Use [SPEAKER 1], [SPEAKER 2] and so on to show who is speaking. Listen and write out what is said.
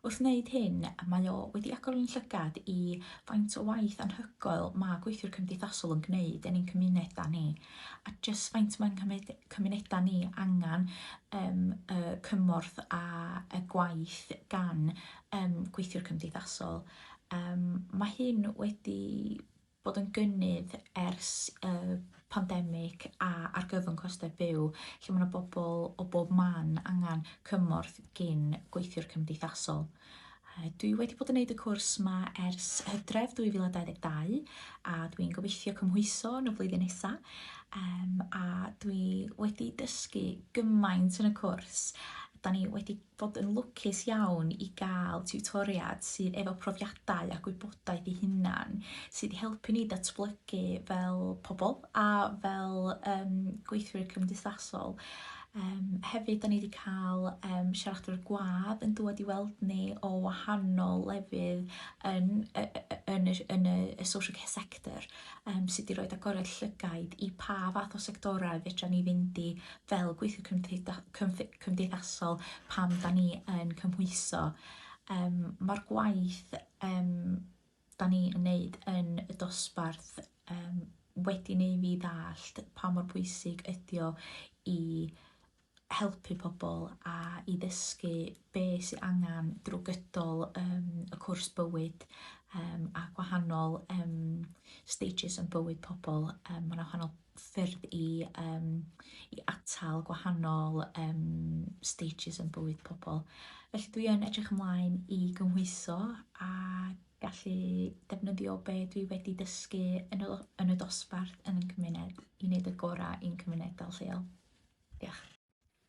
[SPEAKER 1] Wrth wneud hyn, mae o wedi agor ein llygad i faint o waith anhygoel mae gweithiwr cymdeithasol yn gwneud yn ein cymunedau ni, a jyst faint mae'n cymryd cymunedau ni angen um, y cymorth a y gwaith gan um, gweithiwr cymdeithasol. Um, mae hyn wedi bod yn gynnydd ers y pandemig a argyfwng costau byw, lle mae yna bobl o bob man angen cymorth gin gweithiwr cymdeithasol. Dwi wedi bod yn neud y cwrs yma ers hydref 2022 a dwi'n gobeithio cymhwyso yn y flwyddyn nesa um, a dwi wedi dysgu gymaint yn y cwrs. Da ni wedi fod yn lwcus iawn i gael tiwtoriad sydd efo profiadau a gwybodaeth ei hunan sydd i helpu ni datblygu fel pobl a fel um, gweithwyr cymdeithasol. Um, hefyd, da ni wedi cael um, siaradwyr gwadd yn dod i weld ni o wahanol lefydd yn, yn, y, yn y, y social care sector um, sydd wedi rhoi agoriad llygaid i pa fath o sectorau fedra ni fynd i fel gweithio cymdeithasol cymdeithasol pan 'dan ni yn cymhwyso yym ma'r gwaith yym 'dan ni yn neud yn y dosbarth yym wedi neu' fi ddallt pa mor bwysig ydi o i helpu pobol a i ddysgu be' sy angan drw gydol yym y cwrs bywyd yym a gwahanol yym stages yn bywyd pobol yym ma' 'na wahanol ffyrdd i um, i atal gwahanol um, stages yn bywyd pobl. Felly dwi yn edrych ymlaen i gymhwyso a gallu defnyddio be dwi wedi dysgu yn y, yn y dosbarth yn y cymuned i wneud y gorau i'n cymunedau lleol. Diolch.